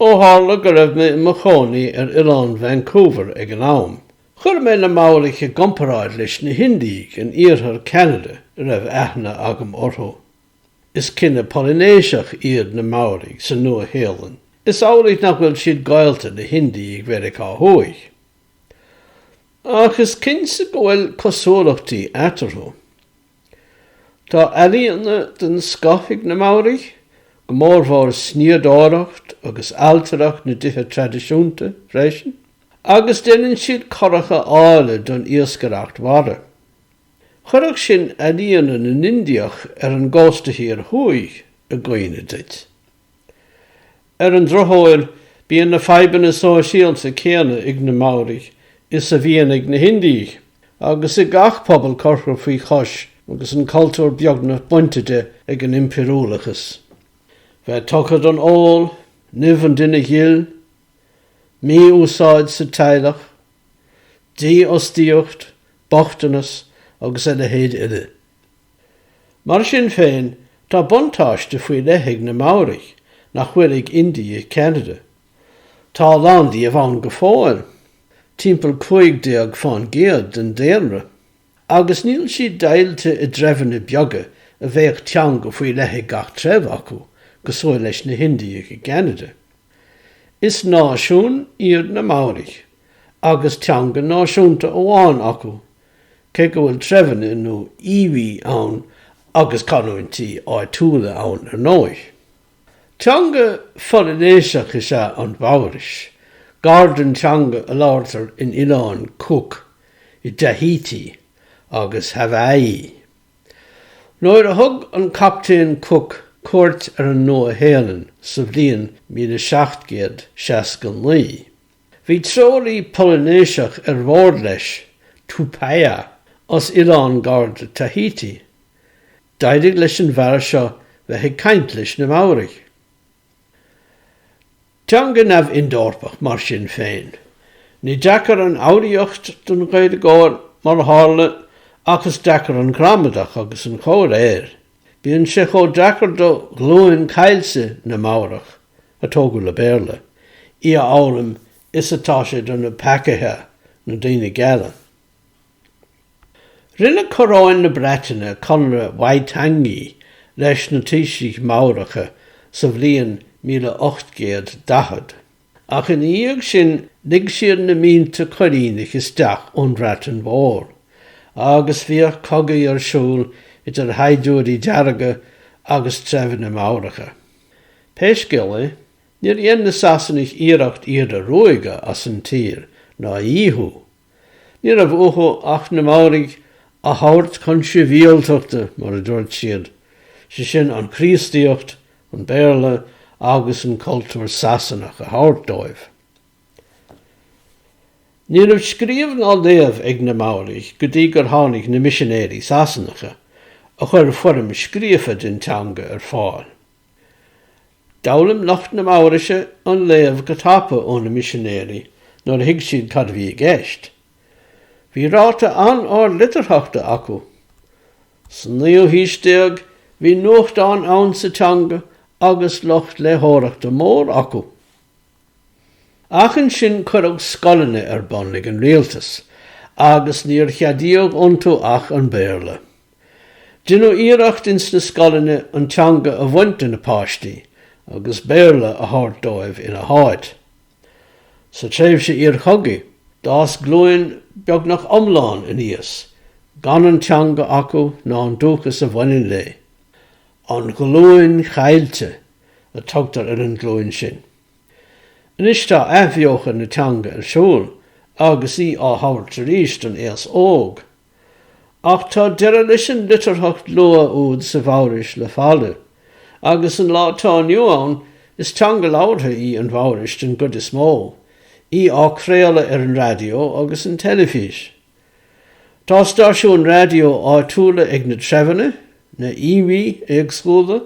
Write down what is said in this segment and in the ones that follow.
Ó tharla go raibh mé i mo chónaí ar Oileán Vancouver ag an am, chuir mé na Maoraigh i gcomparáid leis na hIndiaigh in iarthar Cheanada a raibh aithne agam orthu. Is cine Polainéiseach iad na Maoraigh sa Nua-Shéalainn. Is amhlaidh nach bhfuil siad gaolta le hIndiaigh Mheiriceá Thuaidh. Ach is cinnte go bhfuil cosúlachtaí eatarthu. Tá ealaíona den scoth ag na Maoraigh, go mór mór snoíodóireacht agus ailtireacht na dtithe traidisiúnta, freisin, agus déanann siad curacha áille don iascaireacht mhara. Chuirfeadh sin ealaíona na nIndiach ar an gcósta thiar thuaidh i gcuimhne duit. Ar an drochuair, bíonn na fadhbanna sóisialta céanna ag na Maoraigh is a bhíonn ag na hIndiaigh, agus ag gach pobal curtha faoi chois agus an cultúr beagnach bainte de ag an impiriúlachas. Bheith tugtha don ól, nimh an duine ghil, mí-úsáid sa teaghlach, dífhostaíocht, bochtanas agus a leithéid eile. Mar sin féin, tá buntáiste faoi leith ag na Maoraigh nach bhfuil ag Indiaigh Cheanada. Tá a lán díobh ann go fóill, timpeall cúig déag fán gcéad den daonra, agus níl siad deighilte i dtreibheanna beaga a bheadh teanga faoi leith ag gach treibh acu cosúil leis na hIndiaigh i gCeanada. Is náisiún iad na Maoraigh agus teanga náisiúnta amháin acu, Cé go bhfuil treibheanna nó iwi ann agus canúintí áitiúla ann ar ndóigh. Teanga Pholainéiseach is ea an Mhaorais, gar don teanga a labhartar in Oileáin Cook, i dTahiti agus Haváí. Nuair a thug an Captaen Cook cuairt ar an Nua-Shéalainn sa bhliain míle seacht gcéad seasca naoi, Bhí treoraí Polainéiseach ar bhord leis, Tupaia, as oileán gar do Tahiti. D'éirigh leis an bhfear seo bheith ag caint leis na Maoraigh. Teanga neamh-Ind-Eorpach mar sin féin. Ní deacair an fhoghraíocht don Ghaeilgeoir, mar a tharla, ach is deacair an ghramadach agus an chomhréir. Bíonn sé chomh deacair do ghlúin chaillte na Maorach, a tógadh le Béarla, í a fhoghlaim is atá sé do na Pakeha, na daoine geala. Rinne coróin na Breataine conradh Waitangi leis na taoisigh Mhaoracha sa bhliain 1840. Ach ina dhiaidh sin lig siad na mílte coilíneach isteach ón Bhreatain Mhór agus bhíodh cogaí ar siúl idir shaighdiúirí dearga agus treibheanna Maoracha. Pé scéal é, níor dhein na Sasanaigh iarracht iad a ruaigeadh as an tír ná a dhíothú. Ní raibh uathu ach na Maoraigh a thabhairt chun sibhialtachta, mar a dúirt siad, sé sin an Chríostaíocht, an Béarla agus an cultúr Sasanach a thabhairt dóibh. Ní raibh scríobh ná léamh ag na Maoraigh go dtí gur tháinig na misinéirí Sasanacha, a chuir foirm scríofa den teanga ar fáil. D'fhoghlaim lucht na Maoraise an léamh go tapa ó na misinéirí nuair a thuig siad cad a bhí i gceist. Bhí ráta an-ard litearthachta acu. Sa naoú haois déag bhí nuachtáin ann sa teanga agus lucht léitheoireachta mór acu. Ach ansin cuireadh scoileanna ar bun ag an rialtas agus níor cheadaíodh iontu ach an Béarla. Deineadh iarracht ins na scoileanna an teanga a bhaint de na páistí agus Béarla a thabhairt dóibh ina háit. Sa tréimhse iar-chogaidh d'fhás glúin beagnach iomlán aníos gan an teanga acu ná an dúchas a bhaineann léi. An ghlúin chaillte a tugtar ar an ghlúin sin. Anois tá athbheochan na teanga ar siúl agus í á thabhairt arís don aos óg. Ach tá deireadh leis an litearthacht luath úd sa Mhaorais le fada, agus an lá tá inniu ann is teanga labhartha í an Mhaorais den gcuid is mó, í á craoladh ar an raidió agus an teilifís. Tá stáisiúin raidió áitiúla ag na treibheanna, na Iwi, éagsúla,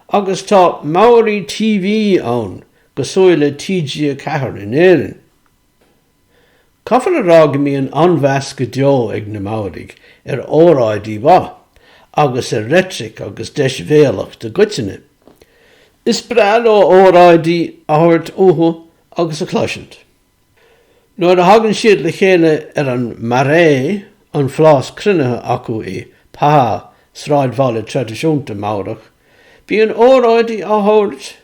agus tá Maori TV ann, cosúil le TG4 in Éirinn. Caithfear a rá go mbíonn an-mheas go deo ag na Maoraigh ar óráidí mhaith, agus ar reitric agus deisbhéalacht i gcoitinne. Is breá leo óráidí a thabhairt uathu agus a chloisint. Nuair a thagann siad le chéile ar an marae, an phlás cruinnithe acu i Pa, sráidbhaile traidisiúnta Maorach, bíonn óráidí á thabhairt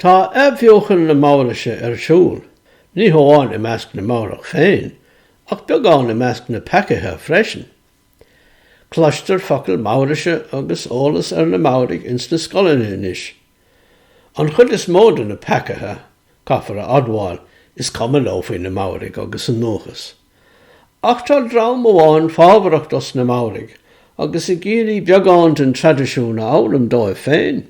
Tá athbheochan na Maoraise ar siúl, ní hamháin i measc na Maorach féin, ach beagán i measc na Pakeha freisin. Cloistear focail Maoraise agus eolas ar na Maoraigh ins na scoileanna anois. An chuid is mó de na Pakeha, caithfear a admháil, is cuma leo faoi na Maoraigh agus a ndúchas. Ach tá dream amháin fábharach dos na Maoraigh agus ag iarraidh beagán den traidisiún a fhoghlaim dóibh féin.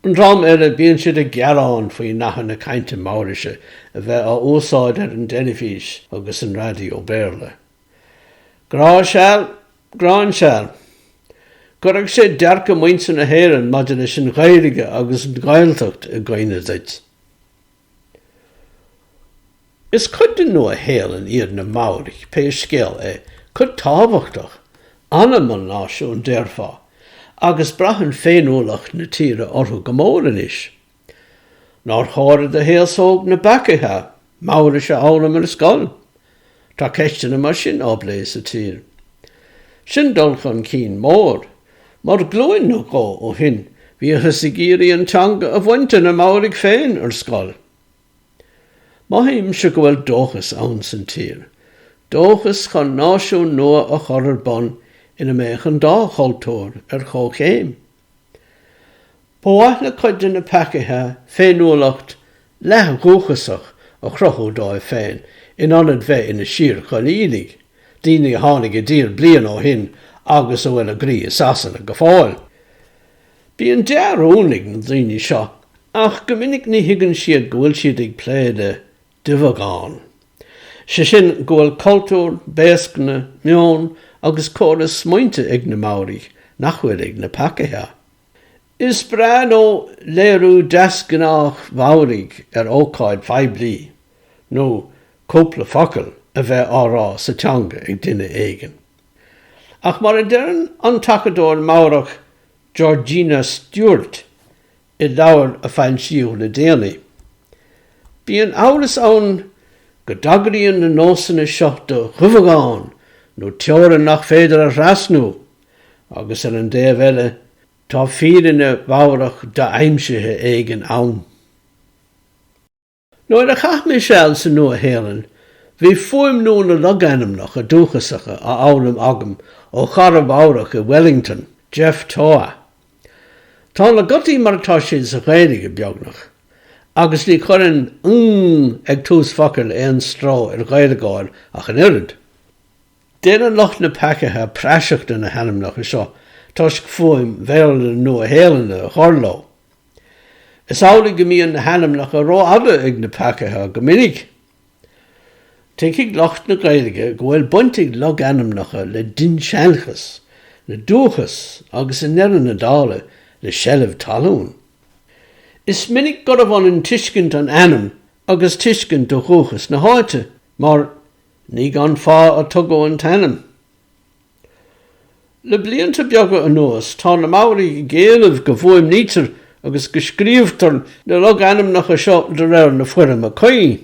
An dream eile, bíonn siad ag gearán faoi nathanna cainte Maoraise a bheith á úsáid ar an teilifís agus an raidió Béarla. Grá seal? Gráin seal? Chuirfeadh sé dearcadh muintir na hÉireann maidir leis an Ghaeilge agus an Ghaeltacht i gcuimhne duit. Is cuid den Nua-Shéalainn iad na Maoraigh pé scéal é, cuid tábhachtach, anam an náisiúin déarfá, agus braitheann féiniúlacht na tíre orthu go mór anois. Nár chóir d'aos óg na bPakeha Maoraise a fhoghlaim ar scoil? Tá ceisteanna mar sin á bplé sa tír. Sin dul chun cinn mór, mar glúin nó dhó ó shin bhíothas ag iarraidh an teanga a bhaint de na Maoraigh féin ar scoil. Mothaímse go bhfuil dóchas insan tír, dóchas chun náisiún nua a chur ar bun ina mbeadh an dá chultúr ar chomhchéim. Ba mhaith le cuid de na Pakeha féiniúlacht leath-dhúchasach a chruthú dóibh féin in ionad bheith ina síorchoilínigh, daoine a tháinig i dtír bliain ó shin agus a bhfuil a gcroí i Sasana go fóill. Bíonn dea-rún ag na daoine seo ach go minic ní thuigeann siad go bhfuil siad ag plé le duibheagán. Sé sin go bhfuil cultúr, béascna, meon agus córas smaointe ag na Maoraigh nach bhfuil ag na Pakeha. Is breá leo léiriú deasghnách Maorach ar ócáid phoiblí nó cúpla focal a bheith á rá sa teanga ag duine éigin. Ach mar a deireann an t-acadóir Maorach Georgina Stewart, i leabhar a foilsíodh le déanaí. Bíonn amhras ann go dtagraíonn na nósanna seo do dhuibheagán nó teorainn nach féidir a thrasnú, agus ar an dtaobh eile tá fírinne Mhaorach do-aimsithe éigin ann. Nuair a chaith mé seal sa Nua-Shéalainn, bhí fuaimniú na logainmneacha dúchasacha á fhoghlaim agam ó chara Maorach i Wellington, Geoff Toa. Tá na gutaí mar atá siad sa Ghaeilge, beagnach, agus ní chuireann ng ag tús focail aon stró ar Ghaeilgeoir ach an oiread. Déanann lucht na Pakeha praiseach de na hainmneacha seo toisc fuaim Bhéarla na Nua-Shéalainne a chur leo. Is amhlaidh go mbíonn na hainmneacha ró-fhada ag na Pakeha go minic. Tuigfidh lucht na Gaeilge go bhfuil baint ag logainmneacha le dinnseanchas, le dúchas agus i ndeireadh na dála le seilbh talún. Is minic gurbh ionann tuiscint an ainm agus tuiscint do dhúchas na háite, mar ní gan fáth a tugadh an t-ainm. Le blianta beaga anuas tá na Maoraigh ag éileamh go bhfuaimnítear agus go scríobhtar na logainmneacha seo de réir na foirme cuí.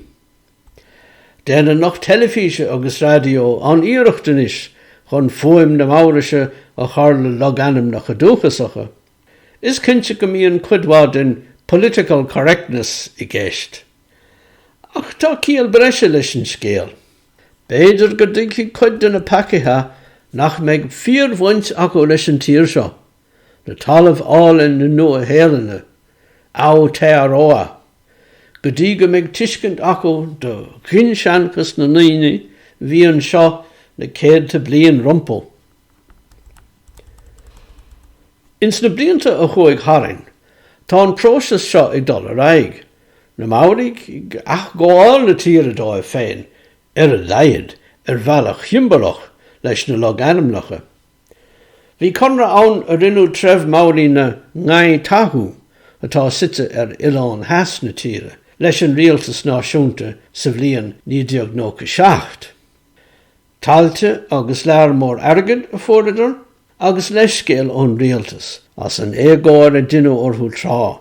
Déanann lucht teilifíse agus raidió an-iarracht anois chun fuaim na Maoraise a chur le logainmneacha dúchasacha. Is cinnte go mbíonn cuid mhaith den 'political correctness' i gceist. Ach tá ciall breise leis an scéal. B'fhéidir go dtuigfidh cuid de na Pakeha nach mbeidh fíor-bhaint acu leis an tír seo, le talamh álainn na Nua-Shéalainne, Aotearoa, go dtí go mbeidh tuiscint acu do dhinnseanchas na ndaoine a bhí anseo na céadta bliain rompu. Ins na blianta a chuaigh tharainn tá an próiseas seo ag dul ar aghaidh. Na Maoraigh ag athghabháil na tíre dóibh féin, ar a laghad, ar bhealach shiombalach leis na logainmneacha. Bhí conradh ann a rinne treibh Maori na Ngai Tahu, atá suite ar oileán theas na tíre, leis an rialtas náisiúnta sa bhliain 1997. Tailte agus lear mór airgid a fuaireadar, agus leithscéal ón rialtas as an éagóir a deineadh orthu tráth.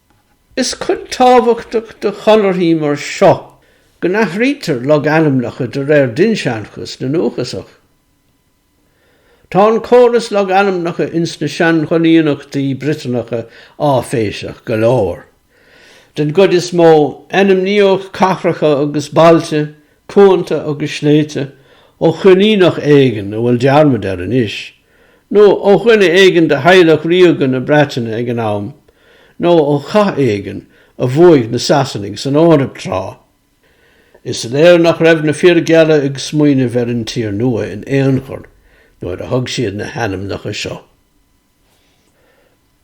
Is cuid tábhachtach de chonarthaí mar seo go n-athraítear logainmneacha de réir dinnseanchas na ndúchasach. Tá an córas logainmneacha ins na sean-choilíneachtaí Briotanacha áiféiseach go leor. Den gcuid is mó, ainmníodh cathracha agus bailte cuanta agus sléibhte, ó choilíneach éigin a bhfuil dearmad air anois, nó ó dhuine éigin de theaghlach ríoga na Breataine ag an am, nó ó chath éigin a bhuaigh na Sasanaigh san Eoraip tráth. Is léir nach raibh na fir geala ag smaoineamh ar an tír nua in aon chor nuair a thug siad na hainmneacha seo.